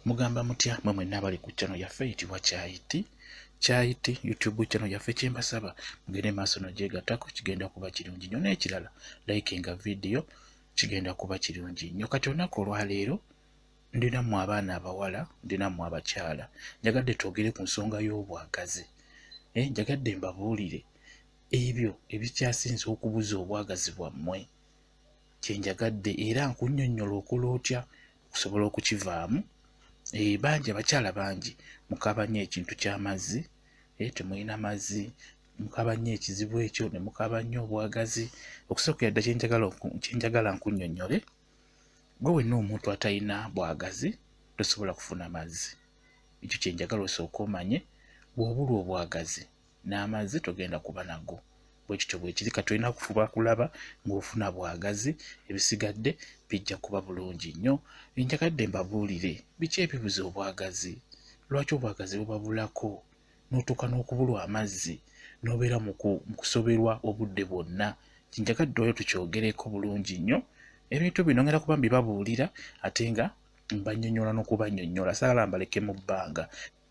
mugamba mutya mwe mwenna abali ku channel yaffe eyitibwa kyayiti kyayiti youtube channel yaffe kyembasaba mugende maaso nogyegatako kigenda kuba kirungi nyo n'ekirala like nga video kigenda kuba kirungi nyo kati olunaku olwaleero ndinamu abaana abawala ndinamu abakyala njagadde twogere ku nsonga y'obwagazi eh, njagadde mbabuulire ebyo ebikyasinze okubuza obwagazi bwammwe kyenjagadde era nkunyonyola okola otya okusobola okukivaamu eh, bangi abakyala bangi mukaba nnyo ekintu ky'amazzi eh, temulina mazzi mukaba nnyo ekizibu ekyo ne mukaba nnyo obwagazi okusookera dda kyenjagala nkunyonnyole gwe wenna omuntu atalina bwagazi tosobola kufuna mazzi ekyo kyenjagala osooka omanye bw'obulwa obwagazi n'amazzi togenda kuba nago bwe kityo bwe kiri kati olina kufuba kulaba ng'ofuna bwagazi ebisigadde bijja kuba bulungi nnyo enjagadde mbabuulire biki ebibuza obwagazi lwaki obwagazi bubabulako n'otuuka n'okubulwa amazzi n'obeera mu kusoberwa obudde bwonna kinjagadde oyo tukyogereko bulungi nnyo ebintu bino ngenda kuba mbibabuulira ate nga mbanyonyola n'okubanyonyola saala mbaleke mu bbanga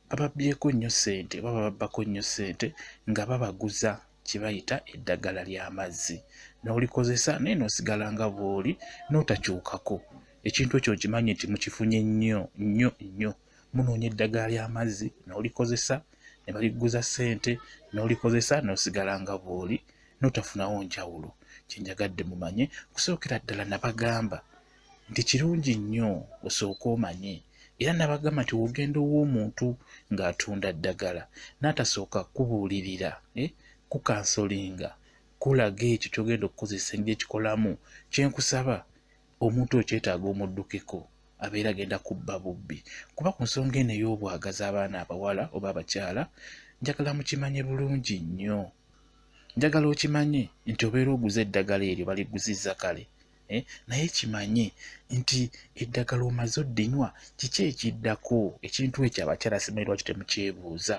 bababbyeko nnyo ssente oba bababbako nnyo ssente nga babaguza kye bayita eddagala ly'amazzi n'olikozesa naye n'osigala nga bw'oli n'otakyukako ekintu ekyo nkimanyi nti mukifunye nnyo nnyo nnyo munoonya eddagala ly'amazzi n'olikozesa ne baliguza ssente n'olikozesa n'osigala nga bw'oli n'otafunawo njawulo kye njagadde mumanye okusookera ddala nabagamba nti kirungi nnyo osooke omanye era nabagamba nti wogenda ow'omuntu ng'atunda ddagala n'atasooka kubuulirira eh, kukansolinga kulaga ekyo kyogenda okukozesa engeri ekikolamu kyenkusaba omuntu okyetaaga omuddukeko abeera agenda kubba bubbi kuba ku nsonga eno ey'obwagaza abaana abawala oba abakyala njagala mukimanye bulungi nnyo njagala okimanye nti obeera oguza eddagala eryo baliguziza kale eh, naye kimanye nti eddagala omaze oddinywa kiki ekiddako ekintu ekyo abakyala simanyi lwaki temukyebuuza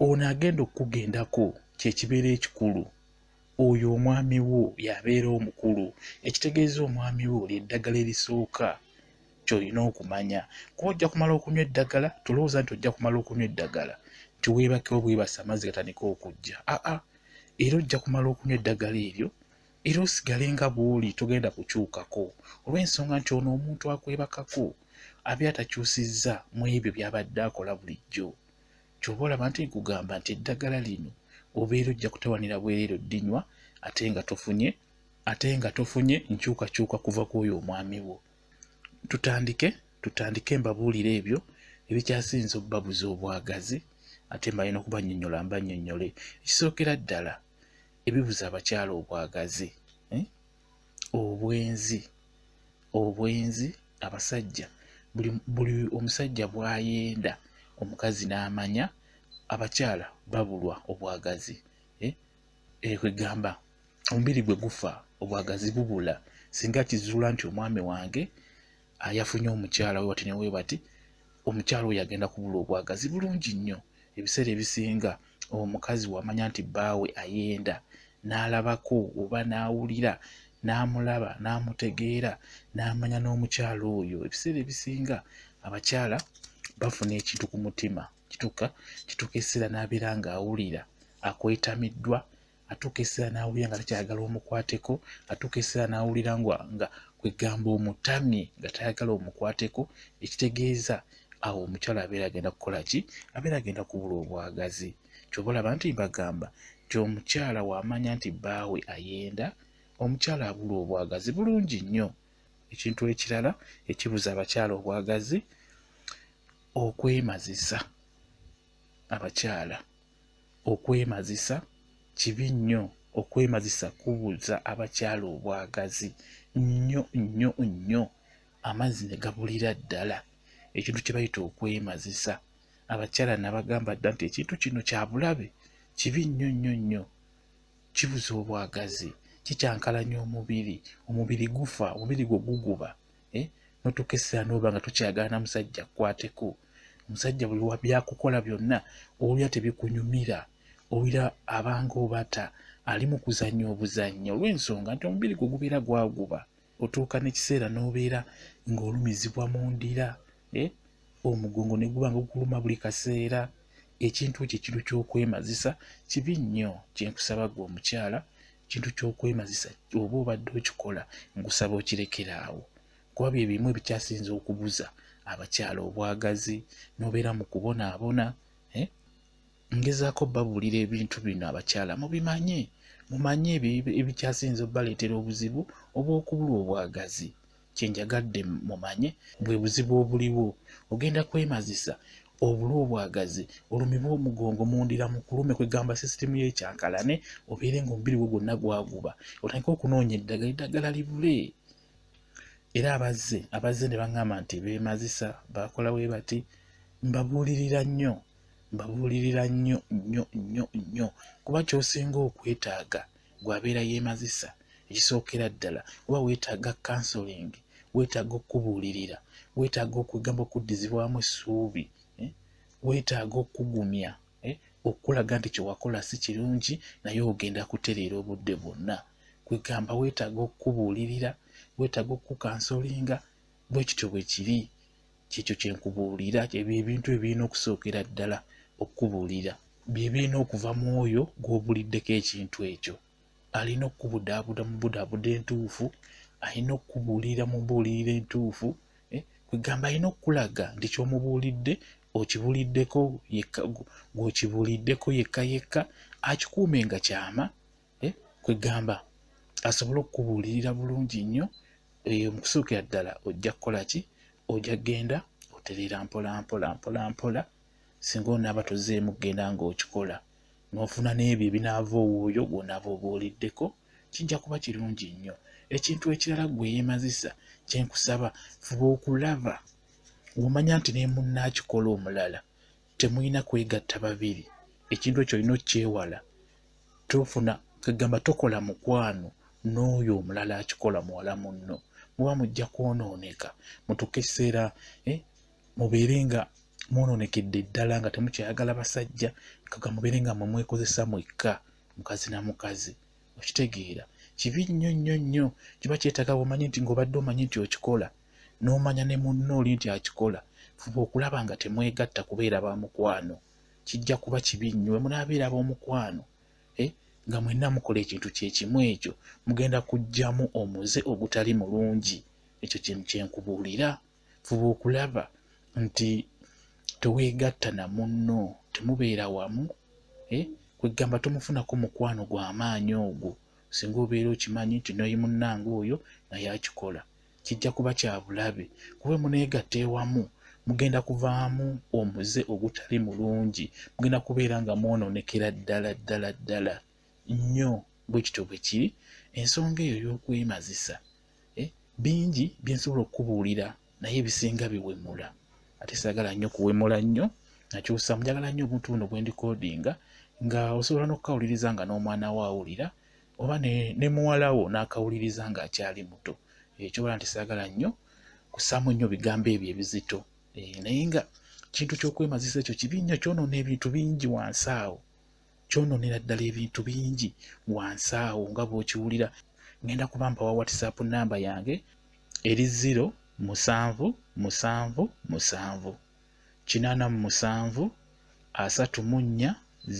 ono agenda okukugendako kyekibeera ekikulu oyo omwami wo yabeera omukulu ekitegeeza omwami wo lyeddagala erisooka kyolina okumanya kuba ojja kumala okunywa eddagala tolowooza nti ojja kumala okunywa eddagala nti weebakewo bwebasa amazzi gatandika okujja aa era ojja kumala okunywa eddagala eryo era osigale nga bw'oli togenda kukyukako olw'ensonga nti ono omuntu akwebakako abi atakyusizza mu ebyo by'abadde akola bulijjo ky'oba olaba nti nkugamba nti eddagala lino obeera ojja kutawanira bwereero ddinywa ate nga tofunye ate nga tofunye nkyukakyuka kuva ku oyo omwami wo tutandike tutandike mbabuulire ebyo ebikyasinza obubabuza obwagazi ate mbalina okubanyonyola mbanyonyole ekisookera ddala ebibuza abakyala obwagazi eh? obwenzi obwenzi abasajja buli, buli omusajja bwayenda omukazi n'amanya abakyala babulwa obwagazi eh? eh, kwegamba omubiri gwe gufa obwagazi bubula singa kizuula nti omwami wange ayafunye omukyala we bati newe bati omukyala oyo agenda kubula obwagazi bulungi nnyo ebiseera ebisinga omukazi wamanya nti bbaawe ayenda n'alabako oba n'awulira n'amulaba n'amutegeera n'amanya n'omukyala oyo ebiseera ebisinga abakyala bafuna ekintu ku mutima kituka kituka eseera n'abeera ng'awulira akwetamiddwa atuuka ekiseera n'awulira nga takyayagala omukwateko atuuka ekiseera n'awulira nga kwegamba omutamye nga tayagala omukwateko ekitegeeza awo omukyala abeera agenda kukola ki abeera agenda kubula obwagazi kyoba olaba nti bagamba nti omukyala waamanya nti bbaawe ayenda omukyala abula obwagazi bulungi nnyo ekintu ekirala ekibuza abakyala obwagazi okwemazisa abakyala okwemazisa kibi nnyo okwemazisa kubuza abakyala obwagazi nnyo nnyo nnyo amazzi ne gabulira ddala ekintu kye bayita okwemazisa abakyala nabagamba dda nti ekintu kino kyabulabe kibi nnyo nnyo nnyo kibuza obwagazi kikyankalanya omubiri omubiri gufa omubiri gwe guguba eh? notuuka essira nooba nga tokyagala na musajja kwateko omusajja buli wabyakukola byonna owulira tebikunyumira owulira abanga obata ali mu kuzannya obuzannya olw'ensonga nti omubiri gwe gubeera gwaguba otuuka n'ekiseera n'obeera ng'olumizibwa mu ndira eh, omugongo ne guba nga gukuluma buli kaseera ekintu ekyo ekintu ky'okwemazisa kibi nnyo kyenkusaba gwe omukyala kintu ky'okwemazisa oba obadde okikola ngusaba okirekera awo kuba bye bimu ebikyasinza okubuza abakyala obwagazi nobeera mu kubonaabona eh? ngezaako babuulira ebintu bino abakyala mubimanye mumanye ebyo ebikyasinza obubaleetera obuzibu obw'okubulwa obwagazi kyenjagadde mumanye bwe buzibu obuliwo ogenda kwemazisa obula obwagazi olumibwa omugongo mundira mukulume kwegamba sisitimu yekyankalane obeere nga omubiri gwo gwonna gwaguba otandika okunoonya eddagala eddagala libule era abazze abazze ne baŋŋamba nti beemazisa bakola we bati mbabuulirira nnyo mbabuulirira nnyo nnyo nnyo nnyo kuba kyosinga okwetaaga gwabeera yeemazisa ekisookera ddala oba weetaaga counseling weetaaga okukubuulirira weetaaga okwegamba okuddizibwamu essuubi eh? weetaaga okugumya eh? okulaga nti kyewakola si kirungi naye ogenda kutereera obudde bwonna kwegamba weetaaga okukubuulirira weetaaga okukukansolinga bwe kityo bwe kiri kyekyo kyenkubuulira ebyo ebintu ebirina okusookera ddala okukubuulira byebirina okuva mu oyo gw'obuliddeko ekintu ekyo alina okukubudaabuda mu budaabuda entuufu alina okukubuulira mu mbuulirira entuufu eh, kwegamba alina okukulaga nti kyomubuulidde okibuliddeko yekka gwokibuliddeko yekka yekka akikuume nga kyama eh, kwegamba asobole okukubuulirira bulungi nnyo eyo mukusookera ddala ojja kukola ki ojja kugenda otereera mpola mpola mpola mpola singa onaaba tozeemu kugenda ng'okikola n'ofuna n'ebyo ebinaava owuuyo gwonaaba obuuliddeko kijja kuba kirungi nnyo ekintu ekirala gwe yeemazisa kyenkusaba fuba okulaba womanya nti nemunna akikola omulala temulina kwegatta babiri ekintu ekyo olina okyewala tofuna kegamba tokola mukwano n'oyo omulala akikola muwala munno muba mujja kwonooneka mutuka ekiseera eh, mubeere nga mwonoonekedde ddala nga temukyayagala basajja kaga mubeere nga mwemwekozesa mwekka mukazi na mukazi okitegeera kibi nnyo nnyo nnyo kiba kyetaaga bwomanyi nti ngaobadde omanyi nti okikola n'omanya ne munno oli nti akikola fuba okulaba nga temwegatta kubeera ba mukwano kijja kuba kibi nnyo we munaabeera b'omukwano eh, nga mwenna mukola ekintu kyekimu ekyo mugenda kujjamu omuze ogutali mulungi ekyo kyenkubuulira fuba okulaba nti teweegatta na munno temubeera wamu eh, kwegamba tomufunako mukwano gw'amaanyi ogwo singa obeera okimanyi nti noyi munnange oyo naye akikola kijja kuba kya bulabe kuba muneegatta ewamu mugenda kuvaamu omuze ogutali mulungi mugenda kubeera nga mwonoonekera ddala ddala ddala nnyo bwe kityo bwe kiri ensonga eyo y'okwemazisa eh, bingi bye nsobola okukubuulira naye ebisinga biwemula ate saagala nnyo kuwemula nnyo nakyusa mujagala nnyo obuntu buno bwe ndikodinga nga osobola n'okukawuliriza nga n'omwana wo awulira oba ne muwala wo n'akawuliriza ng'akyali muto ekyobola eh, nti saagala nnyo kusaamu nnyo bigambo ebyo ebizito eh, naye nga kintu ky'okwemazisa ekyo kibi nnyo kyonoona ebintu bingi wansi awo kyonoonera ddala ebintu bingi wansi awo nga bw'okiwulira ngenda kuba mpawa whatsapp namba yange eri ziro musanvu musanvu musanvu kinaana mu musanvu asatu mu nnya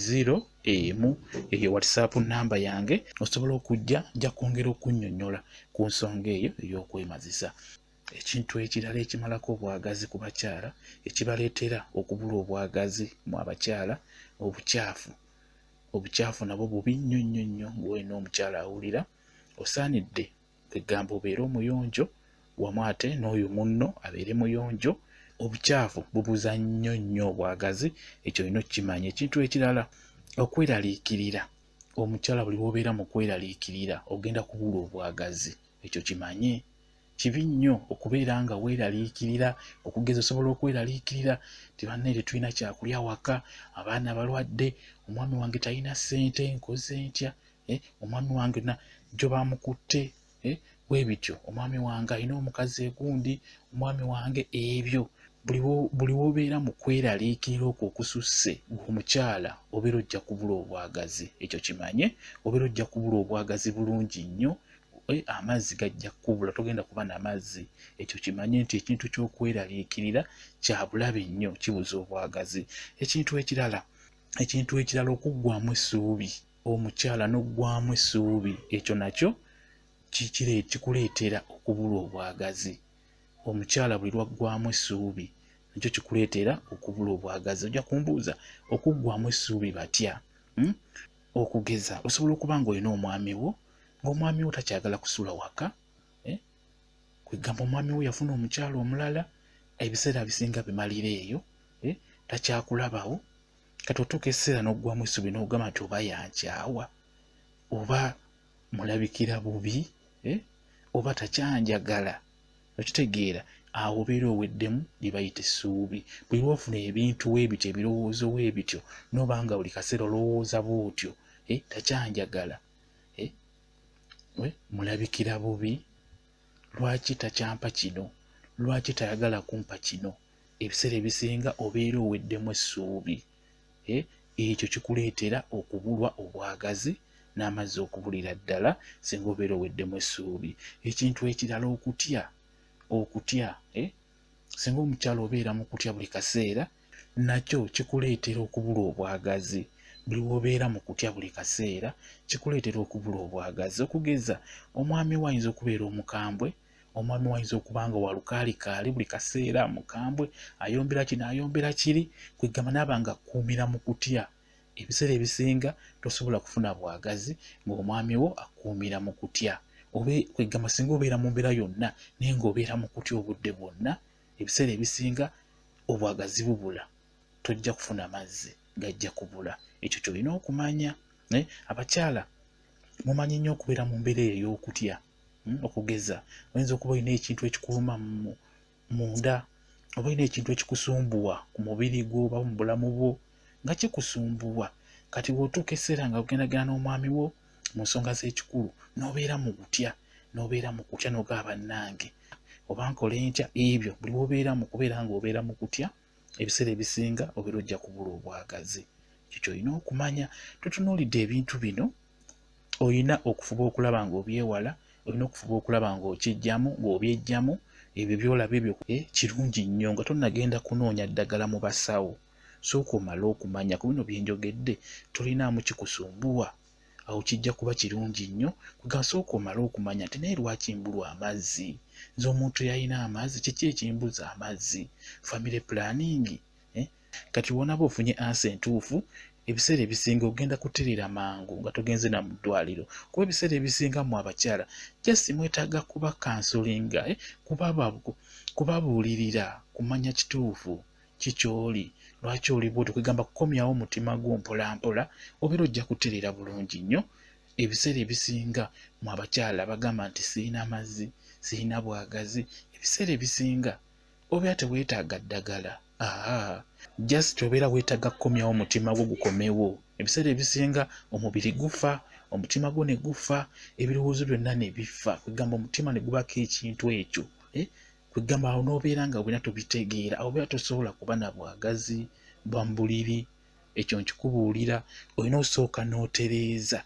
ziro emu eyo whatsapp namba yange osobola okujja nja kwongera okunnyonnyola ku nsonga eyo ey'okwemazisa ekintu ekirala ekimalako obwagazi ku bakyala ekibaleetera okubula obwagazi mu abakyala obukyafu obukyafu nabwo bubi nnyo nnyo nnyo ng'olina omukyala awulira osaanidde kwegamba obeere omuyonjo wamu ate n'oyo munno abeere muyonjo obukyafu bubuza nnyo nnyo obwagazi ekyo olina okukimanya ekintu ekirala okweraliikirira omukyala buli wobeera mu kweraliikirira ogenda kubula obwagazi ekyo kimanye kibi nnyo okubeera nga weeraliikirira okugeza osobola okweraliikirira ti bannaire tulina kyakulya waka abaana balwadde omwami wange talina ssente nkoze ntya eh, omwami wange na jobamukutte eh, bwebityo omwami wange alina omukazi egundi omwami wange ebyo buli wobeera mu kweraliikirira okwo okususse omukyala obeera ojja kubula obwagazi ekyo kimanye obeera ojja kubula obwagazi bulungi nnyo eh, amazzi gajja kukubula togenda kuba na mazzi ekyo kimanye nti ekintu ky'okweraliikirira kya bulabe nnyo kibuza obwagazi ekintu ekirala ekintu ekirala okuggwamu essuubi omukyala n'oggwamu essuubi ekyo nakyo kikuleetera okubulwa obwagazi omukyala buli lwaggwamu essuubi nakyo kikuleetera okubulwa obwagazi ojja kumbuuza okuggwamu essuubi batya hmm? okugeza osobola okuba ng'olina omwami wo ng'omwami wo takyagala kusula waka eh? kwegamba omwami wo yafuna omukyala omulala ebiseera bisinga bimalira eyo eh? takyakulabawo kati otuuka ekiseera n'oggwamu essuubi n'ogamba nti oba yankyawa oba mulabikira bubi eh? oba takyanjagala okitegeera awo obeera oweddemu bye bayita essuubi buli lwofuna ebintu webityo ebirowoozo webityo noba nga buli kaseera olowooza bwotyo eh? takyanjagala eh? mulabikira bubi lwaki takyampa kino lwaki tayagala kumpa kino ebiseera ebisinga obeera oweddemu essuubi eh, ekyo kikuleetera okubulwa obwagazi n'amazzi okubulira ddala singa obeera oweddemu essuubi ekintu ekirala okutya okutya eh, singa omukyalo obeera mu kutya buli kaseera nakyo kikuleetera okubulwa obwagazi buli wobeera mu kutya buli kaseera kikuleetera okubula obwagazi okugeza omwami wo ayinza okubeera omukambwe omwami wayinza okuba nga walukaalikaali buli kaseera mukambwe ayombera kino ayombera kiri kwegamba naaba nga akkuumira mu kutya ebiseera ebisinga tosobola kufuna bwagazi ng'omwami wo akkuumira mu kutya obe kwegamba singa obeera mu mbeera yonna naye ng'obeera mu kutya obudde bwonna ebiseera ebisinga obwagazi bubula tojja kufuna mazzi gajja kubula ekyo kyolina okumanya eh, abakyala mumanyi nnyo okubeera mu mbeera eyo ey'okutya hmm, okugeza oyinza okuba olina ekintu ekikuluma munda oba olina ekintu ekikusumbuwa ku mubiri gwo oba mu bulamu bwo nga kikusumbuwa kati bw'otuuka ekiseera nga ogendagana n'omwami wo mu nsonga z'ekikulu n'obeera mu kutya n'obeera mu kutya n'ogaa bannange oba nkola enkya ebyo buli wobeeramu kubeera ng'obeera mu kutya ebiseera ebisinga obeera ojja kubula obwagazi kikyo olina okumanya tutunuulidde ebintu bino olina okufuba okulaba ng'obyewala olina okufuba okulaba ng'okijjamu ng'obyejjamu ebyo byolaba ebyo eh, kirungi nnyo nga tonagenda kunoonya ddagala mu basawo sooka omale okumanya ku bino byenjogedde tolinaamu kikusumbuwa awo kijja kuba kirungi nnyo kugasooka omale okumanya nti naye lwaki mbulwa amazzi nze omuntu yalina amazzi kiki ekimbuza amazzi family planning eh? kati wonaba ofunye ansa entuufu ebiseera ebisinga ogenda kuterera mangu nga togenze na mu ddwaliro kuba ebiseera ebisinga mu abakyala jasi mwetaaga kuba kansolinga eh? kubabuulirira kumanya kituufu ki ky'oli lwaki oli bwoti kwegamba kukomyawo omutima gwo mpolampola obeera ojja kutereera bulungi nnyo ebiseera ebisinga mu abakyala bagamba nti sirina mazzi sirina bwagazi ebiseera ebisinga obeera teweetaaga ddagala aha just obeera weetaaga kukomyawo omutima gwo gukomewo ebiseera ebisinga omubiri gufa omutima gwo ne gufa ebirowoozo byonna ne bifa kwegamba omutima ne gubako ekintu ekyo eh? kwegamba awo nobeera nga wena tobitegeera awo beera tosobola kuba na bwagazi bwa mbuliri ekyo nkikubuulira olina osooka n'otereeza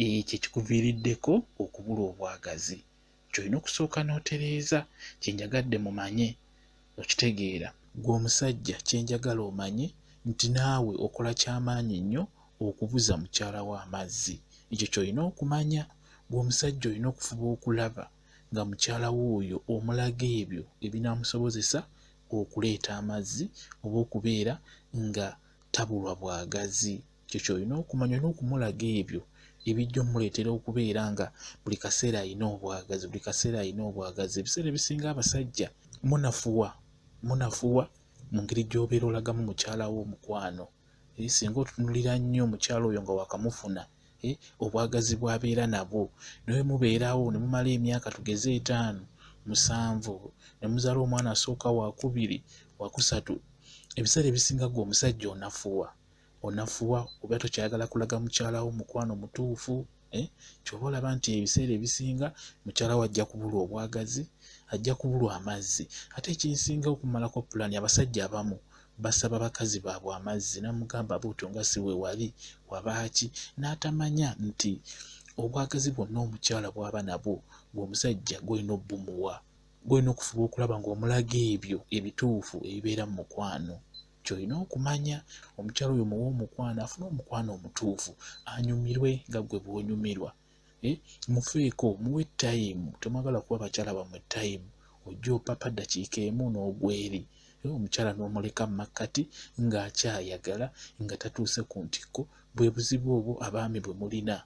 ekyo ekikuviiriddeko okubula obwagazi kyolina okusooka n'otereeza kyenjagadde mumanye okitegeera gwe omusajja kyenjagala omanye nti naawe okola kyamaanyi nnyo okubuza mukyala wo amazzi ekyo kyolina okumanya gwe omusajja olina okufuba okulaba nga mukyala we oyo omulaga ebyo ebinaamusobozesa okuleeta amazzi oba okubeera nga tabulwa bwagazi ekyo kyolina okumanya olina okumulaga ebyo ebijja omuleetera okubeera nga buli kaseera alina obwagazi buli kaseera alina obwagazi ebiseera ebisinga abasajja munafuwa munafuwa mu ngeri gy'obeera olagamu mukyala wo omukwano singa otunulira nnyo omukyala oyo nga wakamufuna eh, obwagazi bwabeera nabwo nawe mubeerawo ne mumala emyaka tugeze etaano musanvu ne muzaala omwana asooka wakubiri wakusatu ebiseera ebisinga gwe omusajja onafuwa onafuwa oba tokyayagala kulaga mukyalawo mukwano mutuufu eh, kyoba olaba nti ebiseera ebisinga mukyalawo ajja kubulwa obwagazi ajja kubulwa amazzi ate ekinsinga okumalako pulaani abasajja abamu basaba bakazi baabwe amazzi namugamba buuto nga si we wali wabaaki n'atamanya nti obwagazi bwonna omukyala bwaba nabwo ng'omusajja gwolina obumuwa gwolina okufuba okulaba ng'omulaga ebyo ebituufu ebibeera mu mukwano kyolina okumanya omukyala oyo muwa omukwano afune omukwano omutuufu anyumirwe nga gwe bwonyumirwa eh, mufeeko muwe time temwagala kuba bakyala bamwe time ojja opapa dakiika emu n'ogweri eh, omukyala n'omuleka mu makkati ng'akyayagala nga tatuuse ku ntikko bwe buzibu obwo abaami bwe mulina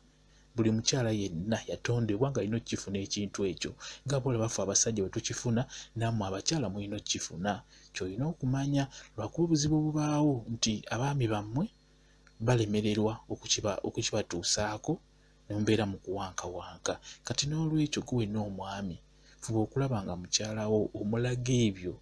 buli mukyala yenna yatondebwa nga alina okukifuna ekintu ekyo nga bolabafe abasajja bwe tukifuna nammwe abakyala mulina okukifuna kyolina okumanya lwakuba obuzibu obubaawo nti abaami bammwe balemererwa okukibatuusaako nembeera mu kuwankawanka kati n'olwekyo gwe wenna omwami fuba okulaba nga mukyalawo omulaga ebyo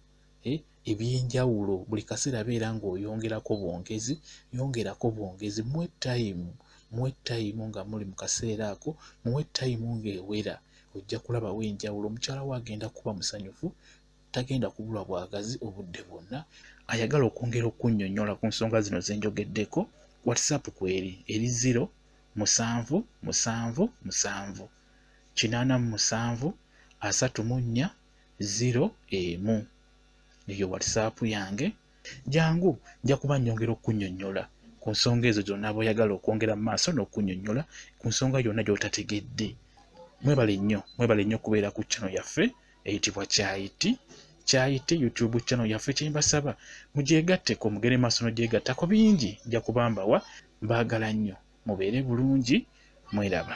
eh, ebyenjawulo buli kaseera beera ng'oyongerako bwongezi yongerako bwongezi muwe tayimu muwe tayimu nga muli mu kaseera ako muwe tayimu ng'ewera ojja kulabawo enjawulo omukyala wo agenda kuba musanyufu tagenda kubulwa bwagazi obudde bwonna ayagala okwongera okunyonyola ku nsonga zino zenjogeddeko whatsapp kweri eri 0 musanvu musanvu musanvu kinaana mu musanvu asatu mu nnya ziro emu eyo whatsapp yange jangu nja kuba nyongera okunyonyola ku nsonga ezo zonna boyagala okwongera mu maaso n'okunyonyola ku nsonga yonna gy'otategedde mwebale nnyo mwebale nnyo okubeera ku channel yaffe eyitibwa kyayiti kyayite youtube channel yaffe kyembasaba mugyegatteko mugere maaso nogyegattako bingi nja kubambawa mbaagala nnyo mubeere bulungi mweraba